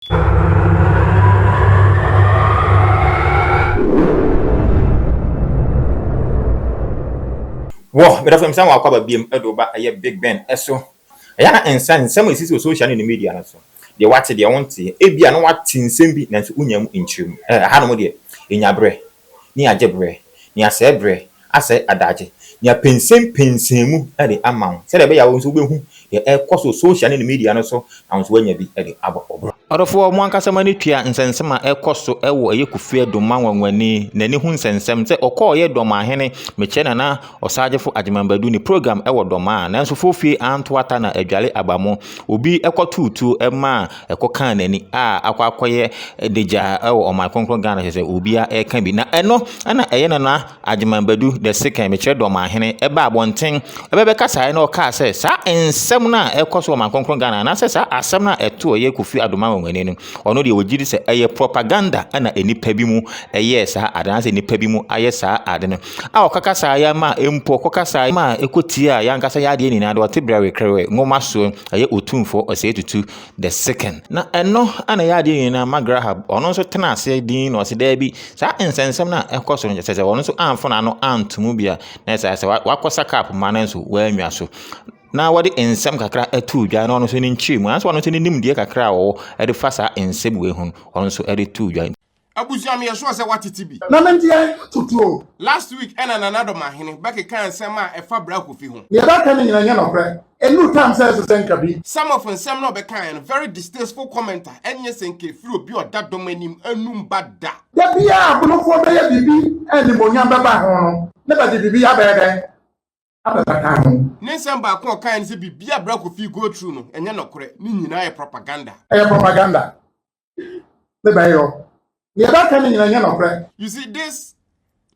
Wɔ medɔfo msan wɔ akwaba biam de wo ba ɛyɛ big ben ɛso ɛyɛ na nsan nsɛm a ɛsisi wɔ social ne ne media no so deɛ wate deɛ wonteɛ ebia na wate nsɛm bi nanso wonyaa mu nkyerɛmu ɛɛ ɛhanom deɛ ɛnya berɛ ne agye berɛ, ne asɛe berɛ, asɛe adagye, ne apɛnsɛmpɛnsɛn mu de ama wo sɛdeɛ ɛbɛyɛ a wo nso wobɛhu deɛ ɛrekɔ so social ne ne media no so na wo nso woanya bi de abɔ wo bra. Ɔdɔfoɔ, mo ankasa moani tua nsɛnsɛm a ɛrekɔ so wɔ Ɛyɛ Kofi Addo ma nwanwani n'ani ho nsɛnsɛm sɛ ɔkɔɔeɛ Dɔmahene Mekyɛ Nana Ɔsaagyefo Agyeman Badu ne program wɔ Dɔmaa nanso Fofie anto ata na adwale aba mu. Obi kɔtoo tuo maa ɛkɔ kaa n'ani a akɔ akɔyɛ dagya wɔ ɔman kronkron Ghana kyerɛ sɛ obiara ɛka bi na ɛno ɛna ɛyɛ nana Agyeman Badu the second mekyerɛ dɔman hene ɛba abɔnten ɛbɛbɛ kasaeɛ na ɔkaa sɛ saa nsɛm no a ɛkɔ so ɔman kronkron Ghana anaasɛ saa asɛm no a ɛto ɔyɛ Kofi Adoma wɔn ani no ɔno deɛ wɔgye di sɛ ɛyɛ propaganda ɛna nnipa bi mu ɛyɛɛ saa ade anaasɛ nnipa bi mu ayɛ saa ade no a ɔka kasaeɛ ma mpo ɔkɔ kasaeɛ ma ɛkɔ tie a yɛankasa yɛ adeɛ nyinaa de ɔte brɛwe krɛwe nwoma soɔ ɛyɛ otumfoɔ ɔsɛe tutu the second na ɛno ana ɛyɛ adeɛ nyinaa ma graham ɔno nso tena aseɛ din na ɔsɛ daa bi saa nsɛnsɛm no a ɛkɔ so no kyɛ sɛ ɔno nso amfo n'ano antomu bia na ɛsɛ sɛ wakɔsa kap ma no nso wɔanwa so na wɔde nsɛm kakra ato dwa na ɔno nso ne nkyerɛ mu anso ɔno nso ne nimdeɛ kakra a ɔwɔ ɛde fa saa nsɛm wei ho ɔno nso ɛde to dwa Abusua meyɛ sure sɛ watete bi. Na me ndeɛ toto o. Last week ɛna Nana Dɔm Ahene bɛkekaa nsɛm a ɛfa Bra Kofi ho. Neɛ bɛɛka no nyina nyɛ nɔkorɛ. Ɛnnuru time sɛ ɛsesɛ nka bi. Some of nsɛm no a ɔbɛkaeɛ no very distasteful comment a ɛnyɛ sɛ nka ɛfiri obi a ɔda dɔm anim anum ba da. Da biara abonofoɔ bɛyɛ biribi a animuonyam bɛba ho no na bɛde biribi abɛyɛ dɛn? abɛfa ka ho. Ne nsɛm baako a ɔkae ne sɛ biribi a Bra Kofi go through no, ɛnyɛ nɔkorɛ. Ne nyinaa yɛ propaganda. Ɛyɛ propaganda. Ne bɛyɔ. Deɛ ɛbɛka ne nyinaa nyɛ nɔkorɛ. You see, this,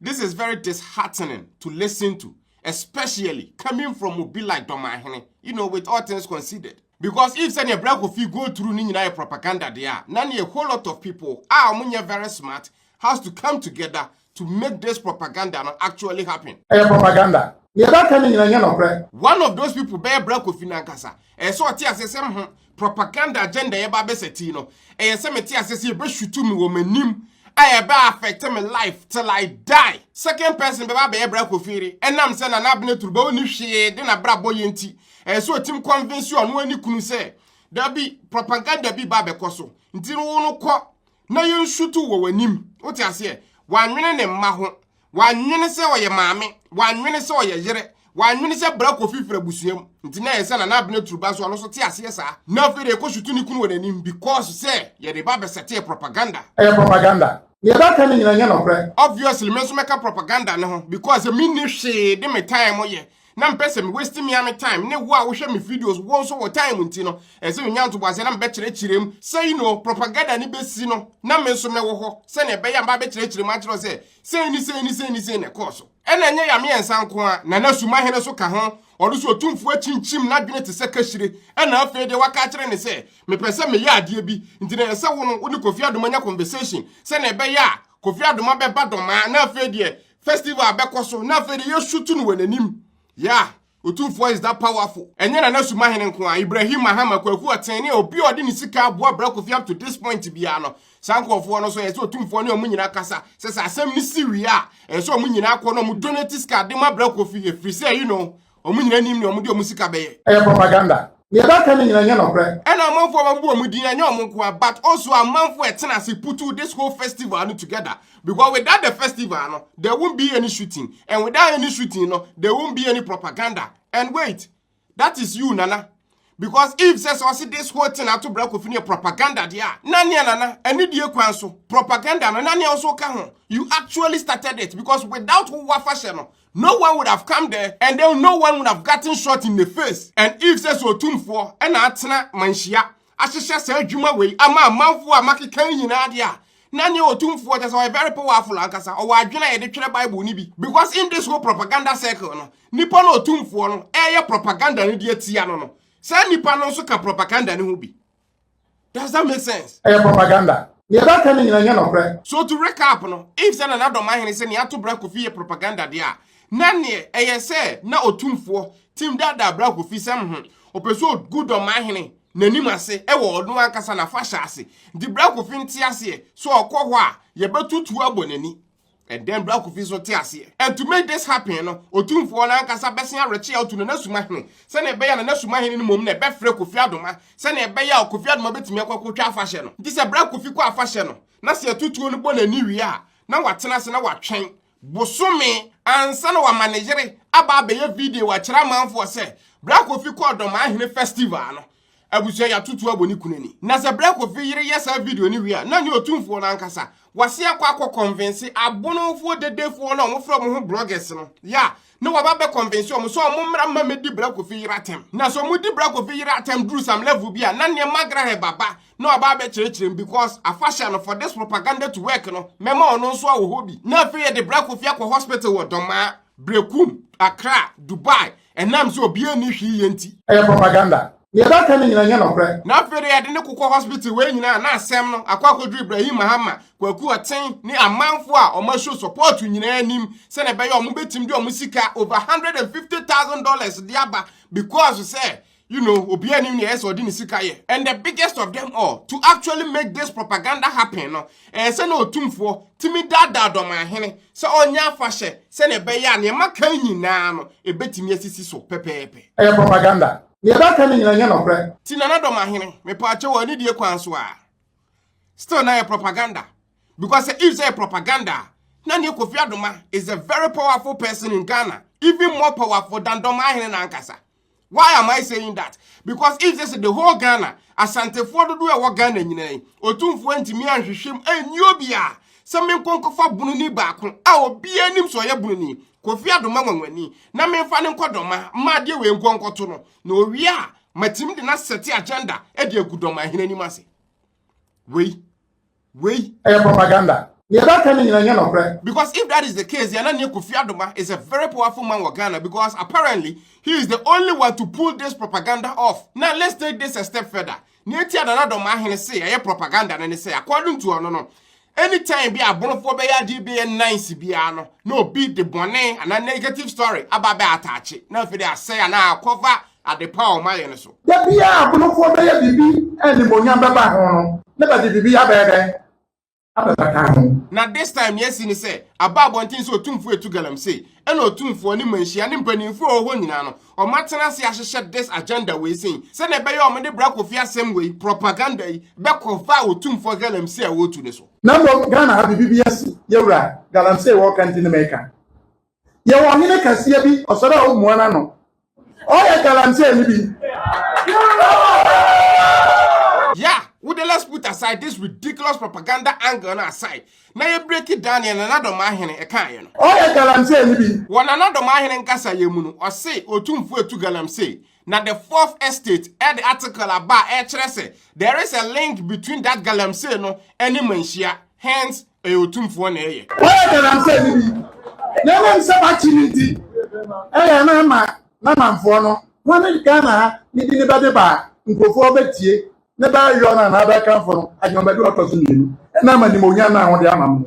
this is very disheartening to listen to, especially coming from obi like Dɔmahene, you know, with all things considered. Because if sɛdeɛ Bra Kofi go through ne nyinaa yɛ propaganda deɛ a, na ne a whole lot of people a wɔnyɛ very smart has to come together to make this propaganda no actually happen. Ɛyɛ propaganda. Nea ɛbɛka ne nyina nyɛ nɔkorɛ. One of those people bɛyɛ Bra Kofi nankasa. Ɛyɛ sɛ ɔte aseɛ sɛ mho propaganda agenda yɛba abɛsa tii no. Ɛyɛ sɛ mete aseɛ sɛ yɛbɛshutu me wɔ m'anim a ɛbɛ affect me life till I die. Second person bɛba abɛyɛ Bra Kofi yere ɛnam sɛ Nana Abena Turu bɛ ɔni hwee de n'abrabɔ yɛ nti. Ɛyɛ sɛ ɔtim convince ɔno ne kunu sɛ dabi propaganda bi ba abɛkɔ so nti no wo no kɔ na yɛnsutu wɔ w'anim wote aseɛ wannwene ne mma ho wannwene sɛ ɔyɛ maame wannwene sɛ ɔyɛ yere wannwene sɛ bra kofi firi abusua mu nti na yɛ sɛ nana abena turuba nso ɔno nso te aseɛ saa na afei de ɛkɔ sutu ne kunu wɔ n'anim because sɛ yɛde ba bɛsɛtee propaganda ɛyɛ propaganda deɛ ɛbɛka no nyina nyɛ nɔkorɛ. Obviously me nso mɛka propaganda no ho because me nni hwee de me time yɛ na mpɛ sɛ me waste me ame time ne wo a wohwɛ me videos wo nso wɔ time nti no ɛsɛ menya ntoboaseɛ na mebɛkyerɛkyerɛ mu sɛ yi no propaganda ne bɛsi no na me nso mɛwɔ hɔ sɛnea ɛbɛyɛ mba bɛkyerɛkyerɛ mu akyerɛ sɛ sei ne sei ne sei ne sei na ɛkɔɔ so ɛna ɛnyɛ yame yɛ nsa nko a nana sumahene so ka ho ɔno so ɔtumfoɔ akyinkyim n'adwene te sɛ kahyire ɛna afei deɛ waka akyerɛ ne sɛ mepɛ sɛ meyɛ adeɛ bi nti na ɛsɛ wo no wo ne kofi adoma nya conversation sɛnea ɛbɛyɛ a kofi adoma bɛba dɔmaa na afei deɛ festival a bɛkɔ so na afei de yɛsu to no wɔ n'anim yeah Otumfoɔ is that powerful ɛnyɛ Nana Sumahene nko a Ibrahim Mahama Kwaku Ɔten ne obi a ɔde ne sika aboa Bra Kofi up to this point biara no saa nkurɔfoɔ no so ɛyɛ sɛ Otumfoɔ ne ɔmo nyinaa kasa sɛ sɛ asɛm no si wie a ɛyɛ sɛ ɔmo nyinaa kɔ na ɔmo donate sika de ma Bra Kofi ɛfiri sɛ you know Wɔn nyinaa nim nea wɔde wɔn sika bɛyɛ. Ɛyɛ propaganda. Nea ɛbɛka no nyinaa nyɛ nɔkorɛ. Ɛna amanfoɔ a wɔabu wɔn din, ɛnyɛ wɔn nko ara, but also amanfoɔ a ɛtena ase putu this whole festival no together. Because without the festival no, there won't be any shooting. And without any shooting no, there won't be any propaganda. And wait, that is you, Nana. Because if sɛ sɛ ɔse this whole thing ato bra kofi no yɛ propaganda deɛ a, na nea nana anidie kwan so propaganda no na nea nso ka ho. You actually started it because without wo afahyɛ no, no one would have come there and then no one would have gotten shot in the face. And if sɛ sɛ otumfoɔ ɛna atena manhyia ahyehyɛ saa adwuma wei ama amanfoɔ a makeka yi nyinaa deɛ a, na nea otumfoɔ kyɛ sɛ ɔyɛ very powerful ankasa, ɔwɔ adwene a yɛde twerɛ Bible no bi. Because in this whole propaganda circle no, nnipa no ɔtumfoɔ no ɛreyɛ propaganda no de atia no no saa nnipa no nso ka propaganda no ho bi does that make sense ɛyɛ propaganda deɛ ɛbɛka no nyina nyɛ nɔkorɛ so to recap no if sɛ nana dɔm ahene sɛ nea ato bra kofi yɛ propaganda deɛ a na neɛ ɛyɛ sɛ na ɔtumfoɔ tim daadaa bra kofi sɛm ho ɔpɛ sɛ ɔgu dɔm ahene n'anim ase ɛwɔ ɔno ankasa na fa hyɛ ase nti bra kofi nte aseɛ sɛ ɔkɔ hɔ a yɛbɛtutu abɔ n'ani And then Bra Kofi so te aseɛ. And to make this happen no, otumfoɔ no ankasa bɛsen awerɛkye a otu no n'asuma hene. Sɛnea ɛbɛyɛ na n'asuma hene no mmom na ɛbɛfrɛ Kofi Adoma. Sɛnea ɛbɛyɛ a Kofi Adoma bɛtumi akɔ akɔtwa afahyɛ no. Nti sɛ Bra Kofi kɔ afahyɛ no, na sɛ atutuo no bɔ n'ani wie a, na watena ase na watwɛn bosome ansa na wama ne yere aba abɛyɛ video akyerɛ amanfoɔ sɛ Bra Kofi kɔɔ Dɔmaa hene festival no. Abusua yɛ atoto abɔ ne kunu ani. Na sɛ berɛ Kofi yere yɛ saa video no wie a, na nyɛ ɔtumfoɔ no ankasa. Wase akɔ akɔ kɔnvense abonofoɔ dedefoɔ no a wɔfrɛ wɔn ho bloggers no. Ya, na waba abɛ kɔnvense wɔn sɛ wɔmmra mma mɛdi berɛ Kofi yere atɛm. Na sɛ wɔdi berɛ Kofi yere atɛm duru some level bi a, na neɛ Magrahɛ baba na waba abɛkyerɛkyerɛ mu because afahyɛ no for this propaganda to work no, mɛma ɔno nso awɔ hɔ bi. Na afei yɛde berɛ Kofi akɔ hospital wɔ Dɔmaa, Berekum, Accra, Dubai, Ɛnam sɛ obiara nni hwee yɛ nti. Ɛyɛ propaganda. Nea ɛbɛka no nyinaa nyɛ nokorɛ. Na afei de yɛde no kokɔ hospital wei nyinaa na asɛm no akɔ akɔduru Ibrahim Mahama, Kwaku Ɔten ne amanfoɔ a wɔn show support nyinaa anim sɛdeɛ ɛbɛyɛ a wɔbɛtumi de wɔn sika over hundred and fifty thousand dollars de aba because sɛ You know, obi anim nea ɛsɛ ɔde ne sika yɛ. And the biggest of them all, to actually make this propaganda happen no, ɛyɛ sɛ na otumfoɔ tumi daadaa dɔmanhene sɛ ɔnyɛ afahyɛ sɛnea ɛbɛyɛ a nea maka nyinaa no ebetumi asisi so pɛpɛɛpɛ. Ɛyɛ propaganda. Nea ɛbɛka no nyinaa nyɛ nɔkorɛ. Ti nana dɔmahene, mepaakyɛ wɔ anidie kwan so a, still na yɛ propaganda. Because sɛ if sɛ yɛ propaganda a, na neɛ Kofi Adoma is a very powerful person in Ghana, even more powerful than dɔmahene na ankasa. Why am I saying that? Because if this is the whole Ghana, Asantefoɔ dodoɔ a ɛwɔ Ghana nyinaa yi, Otumfoɔ antumi anhwehwɛm anyi obiara sɛ menkɔ nkɔfa bununi baako a obiara nim sɛ ɔyɛ bununi, Kofi Adoma Nwanwani, na memfa no nkɔ Dɔma ma adeɛ wei nko nkɔto no, na owie a matumi de no asɛte agenda de agu Dɔma hene anim ase. Wei. Wei. Ɛyɛ propaganda. Nea ɛbɛka ne nyina nyɛ nɔkorɛ. Because if that is the case, yɛn aneɛ Kofi Adoma is a very powerful man wɔ Ghana because apparently he is the only one to pull this propaganda off. Now let's take this a step further. Nea enti a Nana Doma Ahene se ɛyɛ propaganda no ne sɛ according to ɔno no, anytime bi abonofoɔ bɛyɛ adeɛ bi yɛ nice biara no na obi de bɔne anaa negative story aba bɛ ataakye na afei de asɛe anaa akɔfa Ade pa a wɔayɛ no so. Da biara a abonofoɔ bɛyɛ biribi a animuonyam bɛba ho no, na bɛde biribi abɛyɛ dɛn? Abɛbata ho. Na this time nea asi ne sɛ, aba abɔnten sɛ Otumfoɔ atu galamsey, ɛna Otumfoɔ, ne mmanhyia, ne mpanimfoɔ a wɔwɔ hɔ nyinaa no, wɔatena ase ahyehyɛ this agenda wei sei, sɛdeɛ ɛbɛyɛ a wɔde Bra Kofi asɛm wei, propaganda yi, bɛkɔfa Otumfoɔ galamsey a wɔretu no so. Na mmom Ghana ha biribi bi asi, yɛwura, galamsey wɔreka nti ne mereka. Yɛwɔ ɔhene kɛseɛ bi, ɔsɔre a ɔmmua n'ano. Ɔyɛ galamseyni bi. Yeah, wo de let's put aside this ridiculous propaganda angle no aside na yɛ breaki down neɛ Nana Domaahene ɛkaaeɛ no. Ɔyɛ galamseyni bi. Wɔ Nana Domaahene nkasayɛ mu no, ɔse Otumfoɔ atu galamsey Na the fourth estate ɛde article aba a ɛkyerɛ sɛ there is a link between that galamsey no ɛne manhyia hence ɛyɛ otumfoɔ na ɛyɛ. Wɔyɛ galamsey no bi na ɛnam sɛ wakye no nti ɛyɛ na ama n'amanfoɔ no wɔn ne Ghana ha ne bi ne bɛde ba a nkurɔfoɔ bɛtie ne bɛyɔ no anaa bɛkamfo no adwemabɛde ɔtɔ so mmienu ɛnam animuonyam no a wɔde ama no.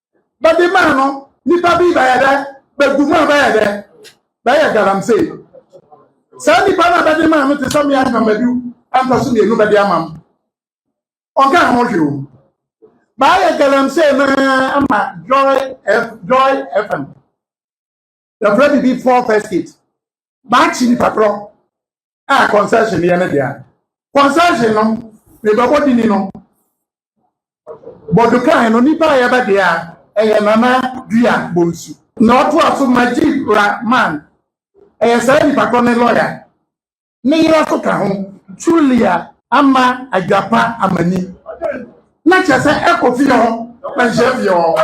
bɛde maa no nipa bi bɛyɛ dɛ bɛgu mu a bɛyɛ dɛ bɛyɛ galamsey saa nipa no a bɛde maa no te sɛ mmea nnwamadu ɛntɔ so mmienu bɛde ama m ɔnka ho hwee o baayɛ galamsey no ama joy joy fm yɛfrɛ biribi four first kit maakye nipa korɔ a concession yɛ ne dea concession no mebɛbɔ dini no bɔdo kan no nipa a yɛbɛ dea ɛyɛ nana dua bonsu na ɔtoa so majid rahman ɛyɛ saa nipa korɔ ne lɔya ne yere nso ka ho. Julia ama adwapa amani. Na kyerɛ sɛ ɛkɔ fie hɔ na nhyɛ fie hɔ.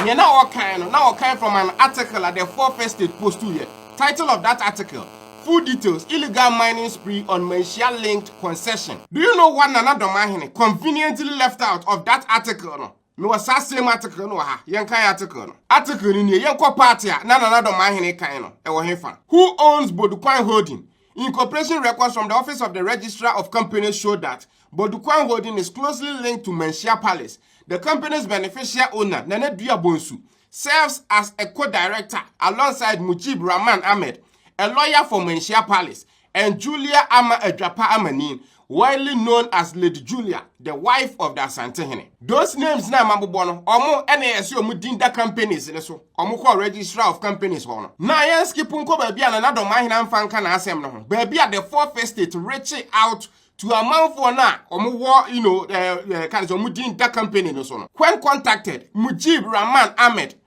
Nea na ɔkan no, na ɔkan from an article a the Four First State Post yɛ. Title of that article, Full Details, Illegal Mining Spree on Manhyia-Linked Concession. Do you know what Nana Domaahene conveniently left out of that article no? Mewɔ saa same article no wɔ ha. Yɛnkan article no. Article no nie, Yɛnkɔ party a na Nana Dɔmaa Hene kan no, ɛwɔ hefa? Who owns Bodukwan Holding? Incorporation records from the office of the Registrar of Companies show that Bodukwan Holding is closely linked to Manhyia Palace. The company's beneficial owner, Nana Dua Bonsu, serves as a co-director alongside Mujib Rahman Ahmed, a lawyer for Manhyia Palace, and Julia Ama Adwapa Amanin, widely known as Lady Julia, the wife of the Asantehene. Those names na mabobɔ no, ɔmo ɛna ɛse ɔmo din da companies ne so. Ɔmo kɔɔ registrar of companies hɔ no. Na yɛn skip nkɔ baabi a Nana Dɔmahene amfa nka n'asɛm no ho, baabi a the fourth estate reche out to amanfoɔ no a ɔmo wɔ, you know, eh, eh, ka ne sɛ ɔmo din da company no so no. When contacted, Mujib Rahman Ahmed,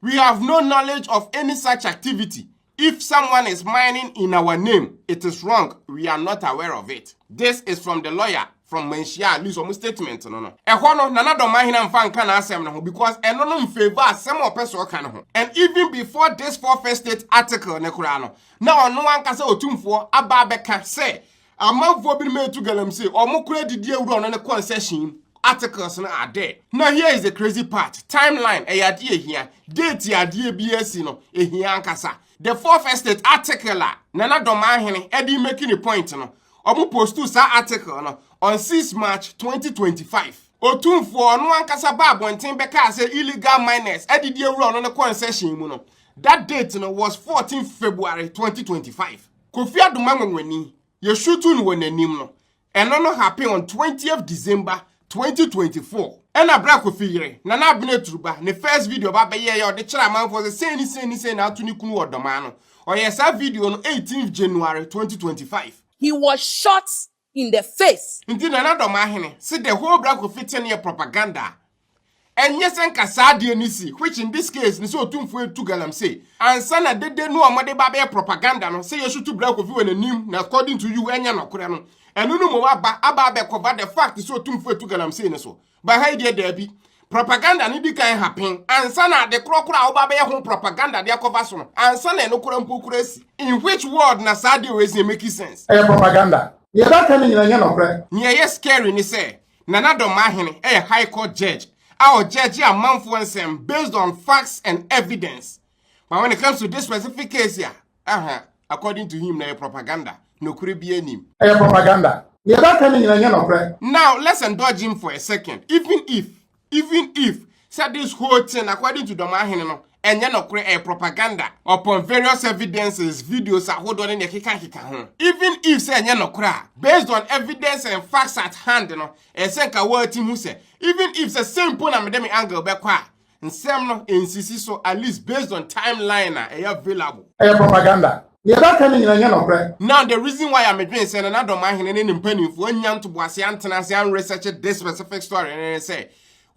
We have no knowledge of any such activity. If someone is mining in our name, it is wrong. We are not aware of it. This is from the lawyer from Manhyia at least ɔmo statement no no. Ɛhɔ no Nana Dɔmahena mfa nka n'asɛm no ho because ɛno no mfavour asɛm a ɔpɛ sɛ ɔka no ho. And even before this four first state article ne koraa no, na ɔno ankasa Otumfoɔ aba abɛka sɛ Amanfoɔ binom retu galamsey, wɔn kora didi awura no ne concession mu. Articles no are there. Na here is the crazy part, timeline ɛyɛ adeɛ ɛhia. Date a adeɛ biara si no, ɛhia ankasa. The fourth estate article a Nana Dɔmahene ɛde make ne point no, wɔn postu saa article no on 6 March 2025. Otumfoɔ ɔno ankasa baa abɔnten bɛkaa sɛ illegal miners adidi awura ɔno ne concession mu no, that date no was 14 February 2025. Kofi Adoma Nwanwani, yɛsutu no wɔ n'anim no, ɛno no happen on 20th December 2024. Ɛna berɛ a Kofi yere, Nana Abena Aturuba, ne first video ba bɛyɛeɛ a ɔde kyerɛɛ amanfoɔ sɛ sei ne sei ne sei na ato ne kunu wɔ Dɔmaa no, ɔyɛɛ saa video no 18th January 2025. He was shot in the face. Nti Nana Dɔmahene, se the whole Bra Kofi thing yɛ propaganda a, ɛnyɛ sɛ nka saa adeɛ no si, which in this case no sɛ Otumfoɔ retu Galamsey, ansa na dede no a wɔde ba abɛyɛ propaganda no, sɛ yɛsutu Bra Kofi wɔ n'anim na according to you ɛnyɛ nɔkorɛ no, ɛno no mmom aba aba abɛcover the fact sɛ Otumfoɔ retu Galamsey no so. Ba ha yi deɛ daabi. Propaganda no di kan ha pen ansa na ade korɔ korɔ a woba bɛyɛ ho propaganda de akɔfa so no ansa na ɛno korɔ mpo korɔ asi. In which world na saa deal wei sɛ make sense? Ɛyɛ propaganda. Deɛ ɛbɛka no nyina nyɛ nɔkorɛ. Nea ɛyɛ scary ne sɛ Nana Domahene yɛ High Court Judge a ɔjudge amanfoɔ nsɛm based on facts and evidence but when it comes to this specific case a, Aha, according to him, na ɛyɛ propaganda. Nokore biaa nnim. Ɛyɛ propaganda. Nea ɛbɛka no nyina nyɛ nɔkorɛ. Now let's indulge him for a second. Even if, even if, sɛ this whole thing according to Dɔmahene no ɛnyɛ nɔkorɛ, ɛyɛ propaganda upon various evidences, videos ahodoɔ ne nea ɛkeka keka ho. Even if sɛ ɛnyɛ nɔkorɛ a, based on evidence and facts at hand no, ɛyɛ sɛ nka woatim hu sɛ, even if sɛ sei mpo na mede me angle bɛkɔ a, nsɛm no nsisi so at least based on time line a ɛyɛ available. Ɛyɛ propaganda. Nea ɛbɛka no nyina nyɛ nɔkorɛ. Now the reason why a medwen sɛ Nana Dɔmahene ne ne mpaninfoɔ annya ntoboaseɛ antena ase an research this specific story no ne sɛ,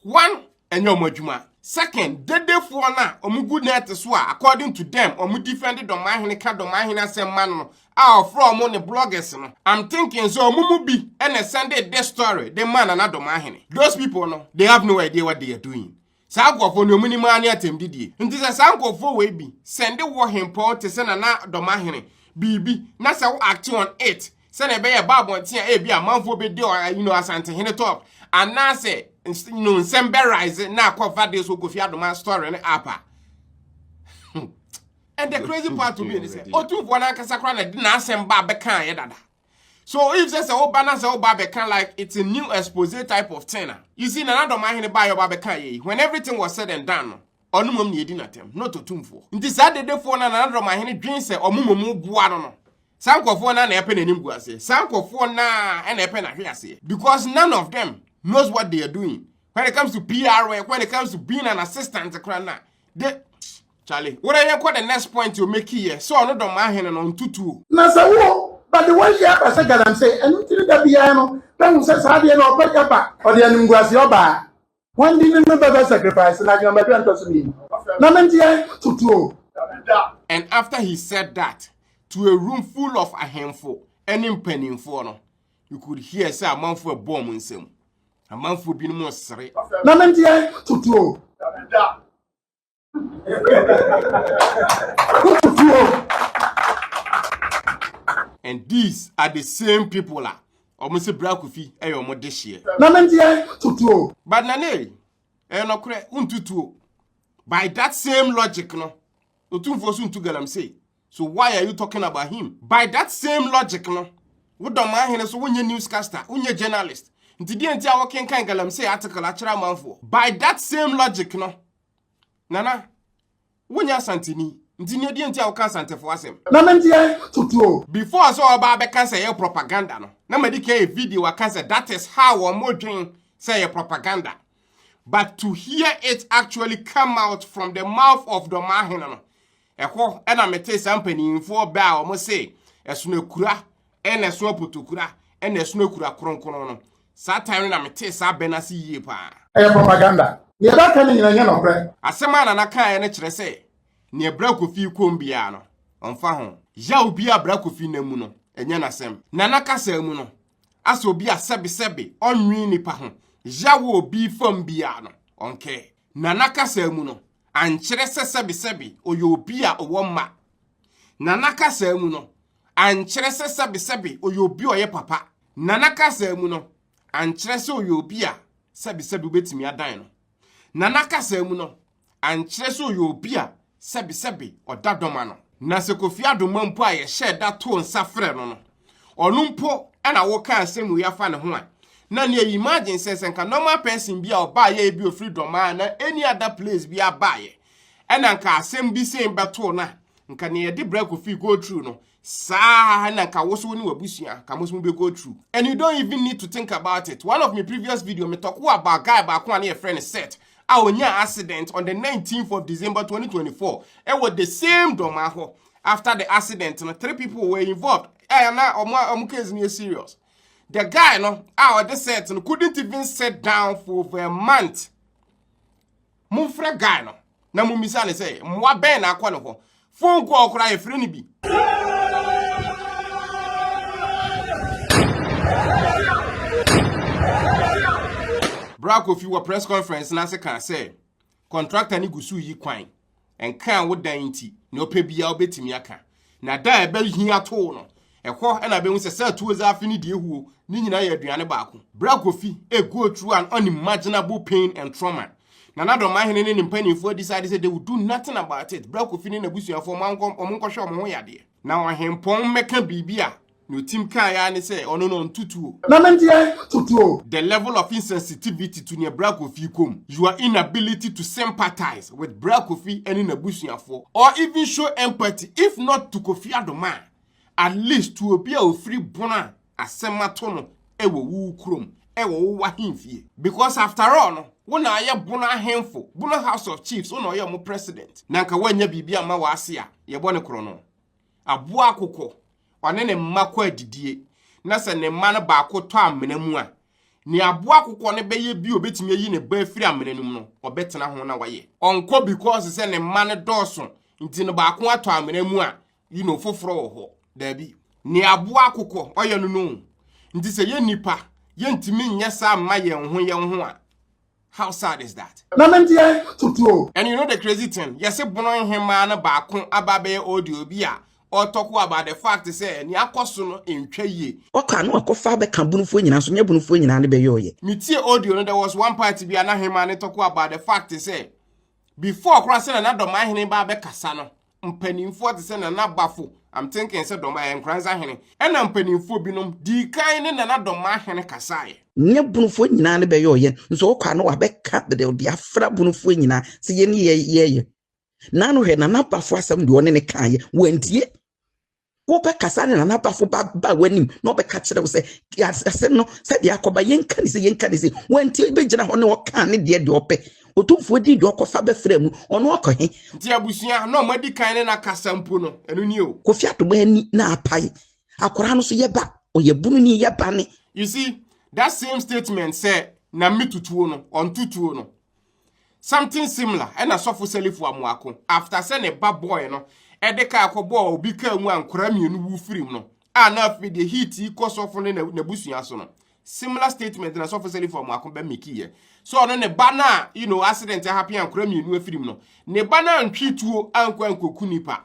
one, ɛnyɛ wɔn adwuma. Second, dedefoɔ no a wɔgu net so a according to them wɔn defend Dɔmahene ka Dɔmahene asɛm ma no no, a ɔfrɛ ɔmo ne bloggers no, I'm thinking sɛ ɔmo mu bi na ɛsɛndee this story de maa Nana Domaahene. Those people no, they have no idea what they are doing. Saa nkorɔfoɔ no, deɛ ɔmo nim ara ne atɛmdidie. Nti sɛ saa nkorɔfoɔ wei bi sɛnde woɔ hempɔn te sɛ Nana Domaahene biribi na sɛ wo act on it sɛdeɛ ɛbɛyɛ ɛba abɔnten a ebia amanfoɔ bɛdi ɔ you know, Asantehene talk anaasɛ ns- you know, nsɛm bɛ rise na akɔfa this Kofi Adomaa story no up a, And the crazy part to me is that Otumfoɔ n'ankasa koraa na de n'asɛm ba abɛka ayɛ dada. So if sɛ sɛ woba na sɛ woba abɛka like it's a new expose type of thing a. You see Nana Dɔm ahene ba a yɛba abɛka yɛ yi when everything was said and done no ɔno mmom na yɛdi n'atɛm not Otumfoɔ. Nti saa dedefoɔ no a Nana Dɔm ahene dwen sɛ ɔmo mmom boa no no saa nkurɔfoɔ no a na ɛpɛ n'anim gu aseɛ saa nkurɔfoɔ no a na ɛpɛ n'ahwe aseɛ because none of them knows what they are doing when it comes to PR work when it comes to being an assistant koraa na de Charlie were yɛ kɔ the next point o meki yɛ sɛ ɔno dɔm ahene no ntutu o. Na sɛ wo ba de w'ayie aba sɛ galamsey ɛno nti ne da biara no bɛhu sɛ saa adeɛ no ɔba gya ba ɔde animguaseɛ ɔbaa wɔn de no no bɛbɛ sacrifice no adwenemadu a ntɔso mmienu na me nteɛ tutu o. And after he said that to a room full of ahemfo ne mpaninfoɔ no you could hear sɛ amanfoɔ ɛbɔɔ wɔn nsam amanfoɔ binom resere. Na me nteɛ tutu o. and these are the same people a wɔn sɛ brakofi yɛ wɔn de hyeɛ. na ne deɛ tutuo. but na ne ɛyɛ nɔkorɛ ntutuo by that same logic no otumfoɔ so ntu galamsey so why are you talking about him by that same logic no wodɔ maa hene so wonyɛ newscaster wonyɛ journalist nti deɛ nti a wɔkenkan galamsey article akyerɛ amanfoɔ by that same logic no. Nana, wonyɛ Asanteni, nti ne ɛdeɛ nti a woka Asantefo asɛm? Na me deɛ tutuo. Before sɛ ɔba abɛka sɛ ɛyɛ propaganda no, na madi kan yɛ video aka sɛ that is how wɔn dwen sɛ ɛyɛ propaganda. But to hear it actually come out from the mouth of Dɔmahene no, Ɛhɔ na metee saa mpanimfoɔ bɛ a wɔse ɛsono akura ɛna ɛsono apotokura ɛna ɛsono akura kronkron no. Saa time no na metee saa bɛ no ase yie paa. Ɛyɛ propaganda. Nea ɛbɛka no nyina nyɛ nɔkorɛ. Asɛm a Nana kaeɛ no kyerɛ sɛ nea Bra Kofi kɔm biara no, ɔmfa ho. Yaw biara a Bra Kofi nam mu no, ɛnyɛ n'asɛm. Nana kasaa mu no, asɛ obi a sɛbesɛbe ɔnnwen nnipa ho, yaw wɔ obi fam biara no, ɔnkɛ. Nana kasaa mu no, ankyerɛ sɛ sɛbesɛbe ɔyɛ obi a ɔwɔ mma, na na kasaa mu no, ankyerɛ sɛ sɛbesɛbe ɔyɛ obi a ɔyɛ papa, na na kasaa mu no, ankyerɛ sɛ ɔyɛ obi a sɛbesɛbe wobɛtumi adan no, na na kasaa mu no, ankyerɛ sɛ ɔyɛ obi a sɛbesɛbe ɔda dɔm ano. Na sɛ Kofi Adomma mpo a yɛhyɛɛ da too nsa frɛɛ no no, ɔno mpo na wokaa asɛm wei afa ne ho a na ne ayi imagine sɛ sɛ nka normal person bi a ɔbaayɛ ebi ofiri dɔmaa na any other place bi abaayɛ ɛna nka asɛm bi sɛn bɛtoo no a nka ne yɛde brɛ kofi go through no saa na nka wosow ne wabusua ka mo so be go through and you don't even need to think about it one of my previous video me talk about guy baako a ne yɛfrɛ no set a onyaa accident on the 19th of December 2024 ɛwɔ the same dɔmaa hɔ After the accident no three people were involved a na ɔmo a ɔmo case no yɛ serious. The guy no a ɔde set no couldn't even sit down for over a month. Momfrɛ guy no na mommisa ne sɛ mmoa bɛn na akɔ ne hɔ. Phone call koraa yɛfrɛ no bi. Bra Kofi wɔ press conference no ase kaa sɛ Kɔntrakta no gu so reyi kwan. Ɛnkaa wo dan nti, nea ɔpɛ biara wobɛtumi aka. Na da a ɛbɛhia too no, ɛhɔ na bɛhu sɛ sɛ tuo zaafi ne deɛ huo ne nyinaa yɛ aduane baako. Berɛ a Kofi a go through an unimaginable pain and trauma, na n'adɔmahene ne ne mpanimfoɔ decide sɛ they will do nothing about it, berɛ a Kofi ne n'abusuafoɔ wɔn nkɔhwɛ wɔn ho yadeɛ, na ɔhempɔn mmɛka biribi a Na otim kae ara ne sɛ ɔno no ɔnto tuo. Na me deɛ to tuo. The level of insensitivity to nea Bra Kofi kɔ mu, your inability to sympathize with Bra Kofi ne n'abusuafoɔ or even show empathy if not to Kofi Adomaa, at least to obi a ɔfiri Bono a asɛm ato no wɔ wo kurom, wɔ wo w'ahemfie. Because after all no, wo na ayɛ Bono ahemfo, Bono House of Chiefs, wo na ɔyɛ wɔn president. Na anka woannya biribi amma w'ase a, yɛbɔ no korɔno. Aboa akokɔ, ɔne ne mma kɔ adidie, na sɛ ne mma no baako tɔ amena mu a, nea aboa akokɔ no bɛyɛ bi a ɔbɛtumi ayi ne ba afiri amena no mu no, ɔbɛtena ho na wayɛ. Ɔnkɔ because sɛ ne mma no dɔɔso nti no baako atɔ amena mu a, you know, foforɔ wɔ hɔ. Daabi. Nea aboa akokɔ ɔyɛ no no o. Nti sɛ yɛn nnipa, yɛntumi nyɛ saa mma yɛn ho yɛn ho a, How sad is that? Na me deɛ tutu o. And you know the crazy thing, yɛse bono nhemaa no baako aba abɛyɛ audio bi a ɔtɔko about the fact sɛ nea akɔ so no ntwa yie. Ɔkɔ a na wakɔfa abɛka bonofoɔ nyinaa nso nyɛ bonofoɔ nyinaa ne bɛyɔɔyɛ. Metie audio no, there was one part bi a na hemaa no tɔko about the fact sɛ before koraa sɛnea na Dɔmahene ba abɛkasa no mpanimfoɔ te sɛ Nana Bafo, I'm thinking sɛ Dɔm ɛyɛ Nkoranza hene, ɛna mpanimfoɔ binom dii kan ne Nana Dɔmmaa hene kasaeɛ. Nyɛ Bonofoɔ nyinaa ne bɛyɔɔ yɛn, nso ɔkɔ a na wabɛka deɛ ɔde afra Bonofoɔ nyinaa sɛ yɛne yɛɛyɛ. Naano hwɛ Nana Bafo asɛm deɛ ɔne ne kaeɛ, wantie. wobɛkasa ne nanabafo ba ba w'anim na ɔbɛka kyerɛ wo sɛ asɛm no sɛdeɛ akɔba yɛnka ne sɛ yɛnka ne sɛ wanti bɛgyina hɔ ne ɔkaa ne deɛ deɛ ɔpɛ ɔtumfoɔ din deɛ ɔkɔfa bɛfrɛ mu ɔno ɔkɔ he nti abusua na ɔma di kan ne na kasa mpo no ɛno ni o kofi adoma ani na apae akwaraa no so yɛba ɔyɛ bunu ni yɛba ne you see that same statement sɛ na metutuo no ɔntutuo no Something similar ɛna sɔfo Selifu Amoako after sɛ ne ba boy no ɛde kaa kɔbɔɔ obi kaa mu a nkwadaa mmienu wu firim no a na afei deɛ heat yi kɔ sɔfo ne n'abusua so no. Similar statement na sɔfo Selifu Amoako bɛ meki yɛ. So ɔno ne ba no a you know accident ahappen a nkwadaa mmienu afirim no ne ba no antwe tuo ankɔ ankoku nipa.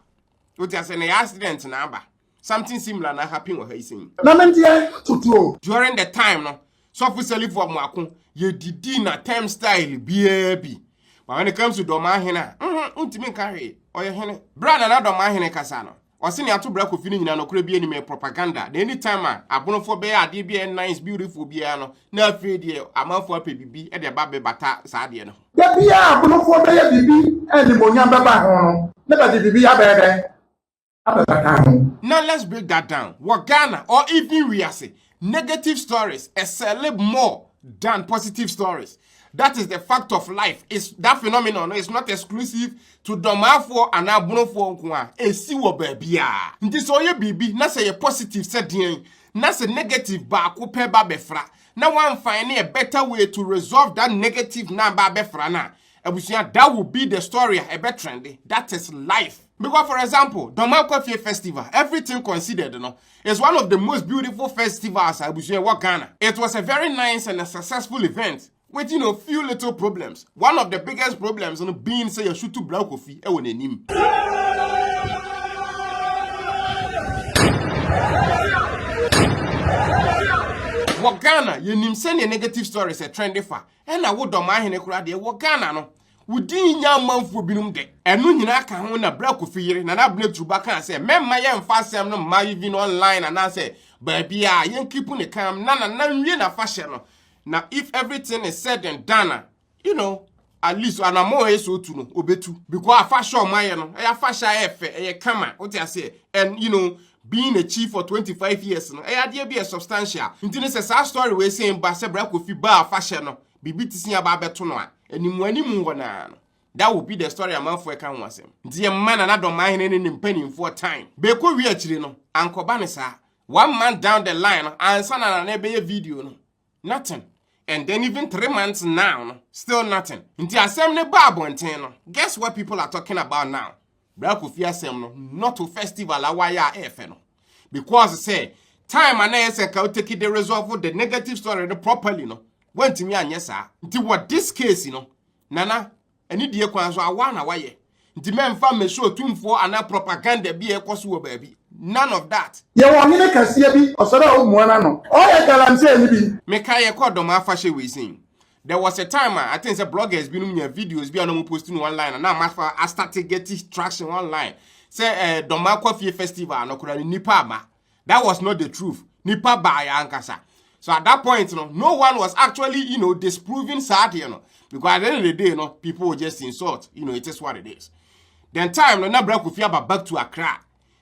Wote ase na ɛyɛ accident na aba. Something similar na happen wɔ ha yi sɛn. Na me deɛ tutuo. During the time no, sɔfo sɛlifo ɔmo ako, yɛdidi na term style biara bi. But when it comes to dɔmaa hene a, mhm, wontumi nka hwee, ɔyɛ hene. Berɛ a Nana dɔmaa hene kasa no, ɔse nea ato bra kofi no nyinaa nɔkorɛ bi anim, ɛyɛ propaganda. Na anytime a abonofoɔ bɛyɛ adeɛ bi a ɛyɛ nice, beautiful biara no, na afei deɛ amanfoɔ apɛ biribi de aba abɛbata saa adeɛ no ho. Da biara a abonofoɔ bɛyɛ biribi a animuonyam bɛba ho no, na bɛde biribi abɛyɛ dɛn? abɛfa ka ho. Now let's break that down. Wɔ Ghana or even wiase, negative stories ɛsɛle more than positive stories. That is the fact of life. It's, that phenomenon is not exclusive to dɔmaafoɔ anaa bonofoɔ nko a ɛsi wɔ baabiaa. Nti sɛ ɔyɛ biribi na sɛ yɛ positive sɛ deɛn na sɛ negative baako pɛ ba bɛfra na one find a better way to resolve that negative na ba bɛfra no a Abusua that will be the story a ɛbɛ trende, that is life. Because for example, Dɔmankɔfie festival, everything considered no, is one of the most beautiful festivals a abusua ɛwɔ Ghana. It was a very nice and a successful event with you know few little problems. One of the biggest problems no being sɛ yɛsutu Blau Kofi ɛwɔ n'anim. Wɔ Ghana, yɛnim sɛnea negative stories ɛtrende fa. Ɛna wo dɔm ahene koraa deɛ wɔ Ghana no, wo din nnya amanfoɔ binom dɛ. Ɛno nyinaa ka ho na Bra Kofi yere, Nana Abena Turuba kaa sɛ mɛmma yɛmfa asɛm no mma even online anaasɛ baabiara a, yɛnkeep no calm na Nana nwie n'afahyɛ no na if everything is said and done a, you know, at least anammɔn a ɛyɛ sɛ ɔtu no, ɔbɛtu. Because afahyɛ a wɔayɛ no, ɛyɛ afahyɛ a ɛyɛ fɛ, ɛyɛ kama, wote aseɛ, and you know, being na chief for twenty five years no ɛyɛ adeɛ bi a substantial nti no sɛ saa story wei sen ba sɛ bra kofi baa afahyɛ no biribi te sin aba abɛto no a animu animu hɔ naa no that will be the story amanfoɔ ɛka ho asɛm nti yɛ mma nana dɔmahene ne ne mpanimfoɔ time bɛkɔ wie akyire no ankɔba ne saa one month down the line no ansa na nana ɛbɛyɛ video no Nothing. And then even three months now no, still nothing. Nti asɛm no ba abɔnten no, guess what people are talking about now? Bra Kofi asɛm no, not to festival a wayɛ a ɛfɛ no. Because sɛ time a na ɛyɛ sɛ nka woteki de resolve the negative story no properly no, wantumi anyɛ saa. Nti wɔ this case no, Nana, Ɛne deɛ kwan so awa na wayɛ. Nti mɛmfa mmɛsi otumfoɔ anaa propaganda bi a ɛkɔ so wɔ baabi. None of that. Yɛwɔ ɔhene kɛseɛ bi, ɔsɛ dɛ wo mua n'ano. Ɔyɛ galamsey no bi. Me kae yɛkɔɔ dɔm afahyɛ wei sei. There was a time a I think sɛ bloggers binom nyaa videos bi a na ɔmo post no online a na ama fa a starte geti traction online sɛ eh dɔm akɔ fie festival no koraa no nnipa amma. that was not the truth nipa baayɛ ankasa so at that point no no one was actually you know disproving saa adeɛ no because at the end of the day no people were just insult you know it is what it is then time no na bra kofi aba back to Accra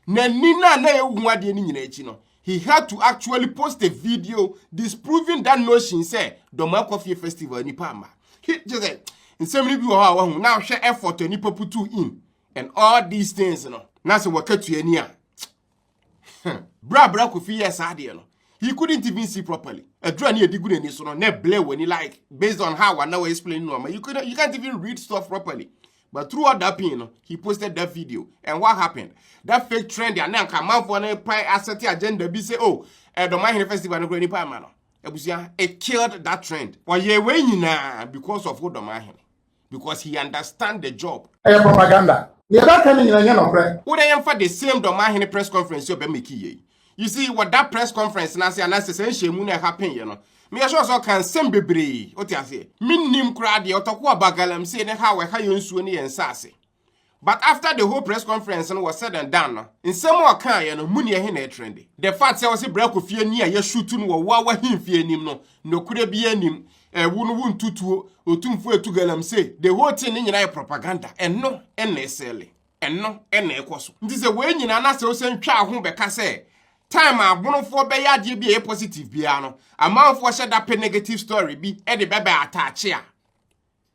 n'ani na na ehu adeɛ no nyinaa akyi no he had to actually post a video disproving that notion sɛ dɔm akɔ fie festival nipa ama he just said nsɛm no bi wɔ hɔ a wahu na ahwɛ effort a nipa putu in and all these things no na sɛ wɔkatua ni a Bere a Bra Kofi yɛɛ saa adeɛ no, he couldn't even see properly. Adura ne yɛde gu n'ani so no, na ɛblɛ wɔ ani like based on how ana wɔ explain no ama. You, could, you can't even read stuff properly. But throughout that pain no, he posted that video. And what happened? That fake trend and then Kamanfo no pie asset agenda be say, oh, eh, the Mahine Festival no nipa ama no. Abusua, it killed that trend. Ɔyɛ wei nyinaa because of Odomahene. because he understand the job. Ɛyɛ propaganda. Nea ɛbɛka ne nyina nyɛ nɔkorɛ. Wodɛ yɛmfa the same dɔmahene press conference ɔbɛ meki yei. You see, wɔ that press conference n'ase anaasɛ sɛ nhyɛmu no ɛha pen yɛ no, meyɛ sure sɛ ɔka nsɛm bebree, wote aseɛ. Mennim koraa deɛ ɔtɔkoa ba galamsey ne how ɛha yɛn nsuo ne yɛn nsaase. But after the whole press conference no was said and done no, nsɛm a ɔkaeɛ no, mu nea ɛhe na ɛtrende? The fact sɛ ɔse bra kɔ fie ni a yɛshoot no wɔ woa w'ahemfie anim no, nokorɛ biaa nnim. Ɛwo no wontu tuo, Otumfoɔ atu galamsey. The whole thing no nyinaa yɛ propaganda. Ɛno na ɛsɛlle. Ɛno na ɛkɔ so. Nti sɛ wei nyinaa na sɛ wosan twa woho bɛka sɛ time a Abonofoɔ bɛyɛ adeɛ bi a ɛyɛ positive biaa no, amanfoɔ hyɛ da pɛ negative story bi de bɛbɛ attache a,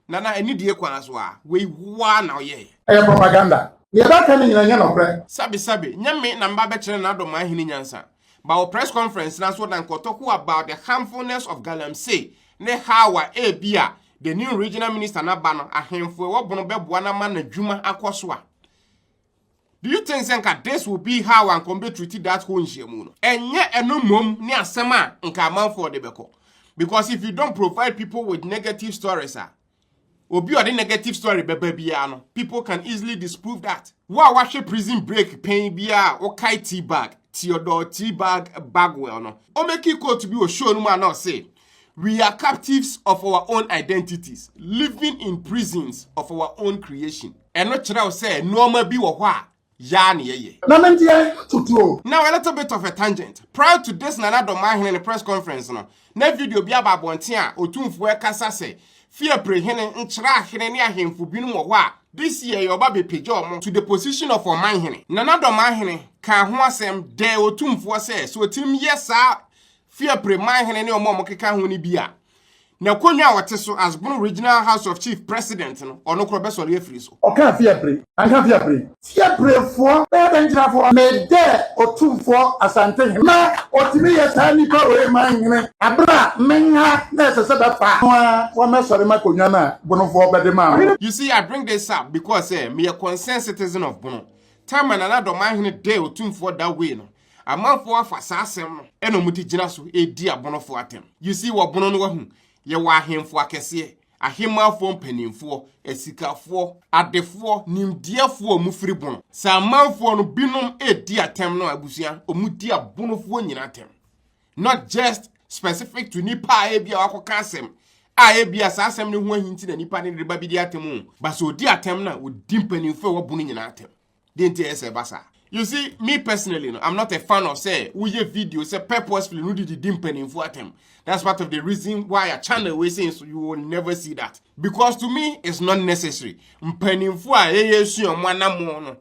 Nana ɛni die kwan so a wei woa na ɔyɛɛ. Ɛyɛ propaganda. Nea ɛbɛka no nyina nyɛ nɔkorɛ. Sabi sabi, nyɛ me na mba bɛkyerɛ Nana Addo Mah Hene nyansa. Ba wɔ press conference na so na nkɔtɔku about the harmfulness of galamsey ne how a ebia the new regional minister na ba no ahenfo ewɔ bono bɛboa no ama nadwuma akɔ so a. Do you think sɛ nka this will be how anka ɔmo bɛ treat that whole nhyiamu no? Ɛnyɛ ɛno mmom ne asɛm a nka amanfoɔ de bɛkɔ. Because if you don't provide people with negative stories a, obi a ɔde negative story bɛba biara no, people can easily disprove that. Wo a wahwɛ Prison Break pɛn biara a, wokae T-Bag, Theodore T-Bag Bagwell no. Ɔmɛki quote bi wɔ show no mu a na ɔse, We are captives of our own identities, living in prisons of our own creation. Ɛno kyerɛw sɛ nneɛma bi wɔ hɔ a yaa na yɛyɛ. Na me deɛ tutuo. Now a little bit of a tangent. Prior to this Nana Domaahene ne press conference no, na video bi aba abɔnten a otumfoɔ ɛkasa sɛ Fiapre hene nkyerɛ ahene ne ahemfo binom wɔ hɔ a this year yɛ ɔba bepagya ɔmo to the position of ɔmanhene. Nana Domaahene kaa ho asɛm dɛɛ otumfoɔ sɛ sɛ otim yɛ saa fi Apire Manhene ne wɔn a wɔkeka ho no bi a, n'akonnwa a ɔte so as Bono Regional House of Chief President no, ɔno koraa ɔbɛsɔre afiri so. Ɔkaa fi Apire, anka fi Apire. Fi Apirefoɔ bɛyɛ dɛn gyina hɔ? Medɛɛ Otumfoɔ Asante he. Ná ɔtumi yɛ saa nnipa wei manhene aberɛ a menha na ɛsɛ sɛ bɛfa no a wɔmmɛsɔre m'akonnwa no a Bonofoɔ bɛde maa me no. You see, I bring this up because sɛ meyɛ concerned citizen of Bono. Time a Nana Adɔ Manhene dɛɛ Otumfoɔ that way no, Amanfoɔ afa saa asɛm no ɛna ɔmo de gyina so redi abonofoɔ atɛm. You see, wɔ bono no wahu, yɛwɔ ahenfoɔ akɛseɛ, ahemanfoɔ mpaninfoɔ, asikafoɔ, adefoɔ, nimdeɛfoɔ a ɔmo firi bono. Sɛ amanfoɔ no binom redi atɛm no a abusua, ɔmo di abonofoɔ nyinaa atɛm. Not just specific to nipa a ebia wakɔka asɛm a ebia saa asɛm no ho ahi nti na nipa no reba abedi atɛm o, but sɛ ɔdi atɛm no a ɔdi mpaninfoɔ a ɛwɔ bono nyinaa atɛm. deɛ nti ɛyɛ sɛ ɛba saa you see me personally no i'm not a fan of say we woyɛ video say purposefully no didi di mpanimfoɔ atɛm that's part of the reason why a channel wey say so you will never see that because to me it's not necessary mpanimfoɔ a yɛyɛ sua ɔmo anamɔ no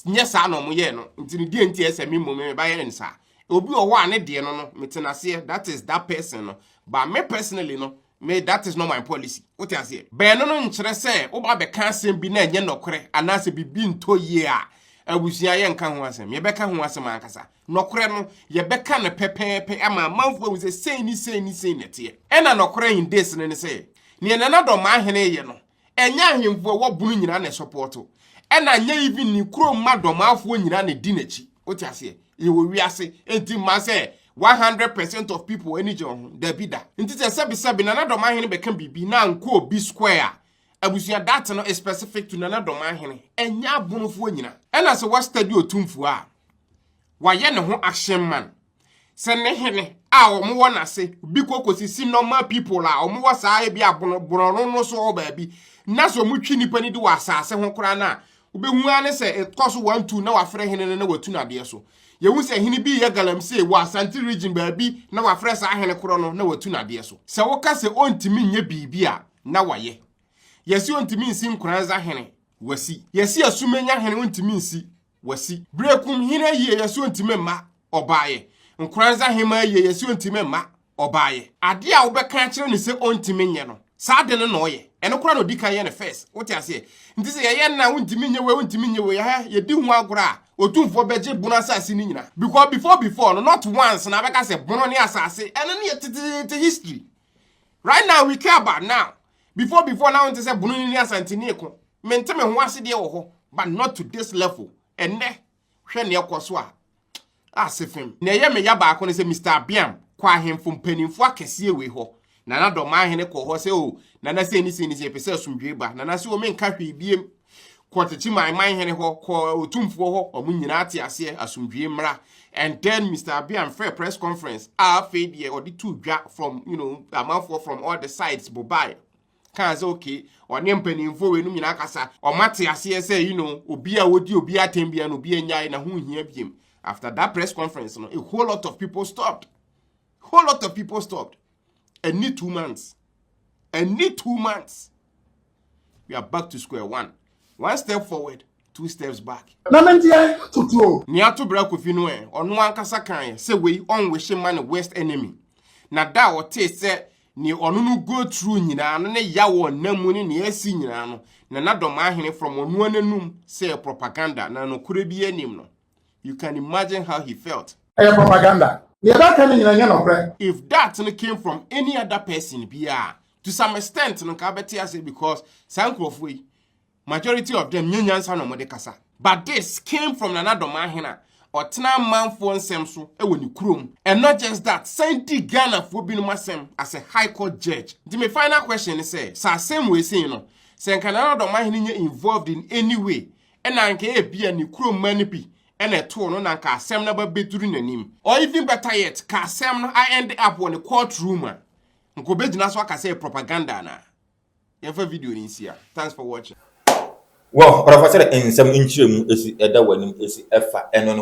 nyɛ saa na ɔmo yɛ no nti ne deɛ nti ɛsɛ me mmom me ba yɛ nsa obi ɔwɔ a ne deɛ no no me tena aseɛ that is that person no but me personally no Me, that is not my policy. Wote aseɛ? Bɛn no no nkyerɛ sɛ woba bɛka asɛm bi na ɛnyɛ nɔkorɛ anaasɛ biribi ntɔ yie a abusua yɛnka ho asɛm. Yɛbɛka ho asɛm ankasa. Nɔkorɛ no, yɛbɛka no pɛpɛɛpɛ ama amanfoɔ ahu sɛ sei ne sei ne sei na ɛteɛ. Ɛna nɔkorɛ in this no ne sɛ, neɛ Nana Dɔmmaahene reyɛ no, Ɛnyɛ ahemfo a ɛwɔ bunu nyinaa na ɛsɔpɔɔto. Ɛna nyɛ even ne kurom mma dɔmaafoɔ nyinaa na ɛdi n'akyi. Wote aseɛ? Yɛwɔ wiase. Enti mma sɛ 100% of people ani gye wo ho. Dabi da. Nti sɛ sɛbesɛbe Nana Dɔmahene bɛka biribi na ankɔ obi square a, abusua that no is specific to Nana Dɔmahene. Ɛnyɛ abonofoɔ nyinaa. Ɛna sɛ woastudy Otumfuo a, wayɛ ne ho action man. sɛ ne hene a wɔn wɔ n'ase bi kɔ kosisi normal people a wɔn wɔ saa ebi abono borɔno no so wɔ baabi na sɛ wɔn twi nipa ni di wɔ asaase ho koraa no a wobɛhu ara ne sɛ ɛkɔ so wɔn tu na wafrɛ hene no na watu n'adeɛ so yɛhu sɛ hene bi yɛ galamsey wɔ asante region baabi na wafrɛ saa hene korɔ no na watu n'adeɛ so sɛ woka sɛ ɔntumi nyɛ biribi a na wayɛ yɛsi ɔntumi nsi nkoranza hene wasi yɛsi asumenya hene ɔntumi nsi wasi. Berekum hene yieyɛ so ntumi mma ɔbaeɛ. Nkoranza hemmaa yieyɛ so ntumi mma ɔbaeɛ. Adeɛ a wobɛka akyerɛ no sɛ ɔntumi nyɛ no, saa ade no na ɔyɛ. Ɛno koraa na ɔdi kan yɛ no first. Wote aseɛ? Nti sɛ yɛyɛ no a, wontumi nyɛ wei, wontumi nyɛ wei, ɛhɛ, yɛdi ho agorɔ a, Otumfoɔ bɛgye bono asase no nyinaa. Because before before no, not once na abɛka sɛ bono ne asase, ɛno no yɛ teteete history. Right now we care about now. Before before na wonte sɛ bunu ne asantini eko. Mente me ho ase deɛ wɔ hɔ but not to this level. Ɛnɛ hwɛ ne ɛkɔ so a ase fem. Na ɛyɛ me ya baako ne sɛ Mr. Abiam kɔ ahemfo mpanimfo akɛseɛ wei hɔ. Nana Dɔmahene kɔ hɔ sɛ o oh, nana sei ne sei ne sei pɛ sɛ asomdwoe ba. Nana sɛ o oh, menka hwee biem. kɔ tete man man hene hɔ kɔ otumfoɔ hɔ ɔmo nyinaa te aseɛ asomdwie mmra and then mr abian frɛ press conference a afei deɛ ɔde tu dwa from you know amanfoɔ from all the sides bobae kaa sɛ okay ɔne mpanimfoɔ wei nom nyinaa kasa ɔmo ate aseɛ sɛ you know obi a wɔdi obi atɛn bia no obi anyae na ho hia biem after that press conference no a whole lot of people stopped whole lot of people stopped ɛni two months ɛni two months we are back to square one one step forward two steps back. na me nteɛ tutuo. nea ato bere akofi no ɛ ɔno ankasa kan ɛ sɛ wei ɔnwehye ma ne worst enemy na da a ɔtee sɛ nea ɔno no go through nyinaa no ne yaw ɔnam mu ne nea asi nyinaa no na n'adɔm ahene from ɔno ananum sɛ propaganda na nokorɛ bi anim no. You can imagine how he felt. Ɛyɛ propaganda. Nea ɛbɛka no nyinaa nyɛ nɔkorɛ. If that no came from any other person bi a, to some extent no nka abɛte ase because saa nkurɔfoɔ yi, majority of them nyɛ nyansa na wɔde kasa. But this came from Nana Addo Maahene a ɔtena amanfoɔ nsɛm so wɔ ne kurom and not just that, san di Ghanafoɔ binom asɛm as a High Court judge. Nti me final question ne sɛ, sɛ asɛm wei sei no, sɛ nka Nana Addo Maahene nyɛ involved in any way na anka ebia ne kurom mma no bi na ɛtoo no na anka asɛm no aba bɛduru n'anim. Or even better yet, ka asɛm no a end up wɔ ne court room a, nka ɔbɛgyina so aka sɛ ɛyɛ propaganda anaa? Yɛmfa video no nsi ha. Thanks for watching. Wɔ ɔrɔfa sɛdɛ nsɛm nkyerɛmu si da w'anim si fa ɛno no.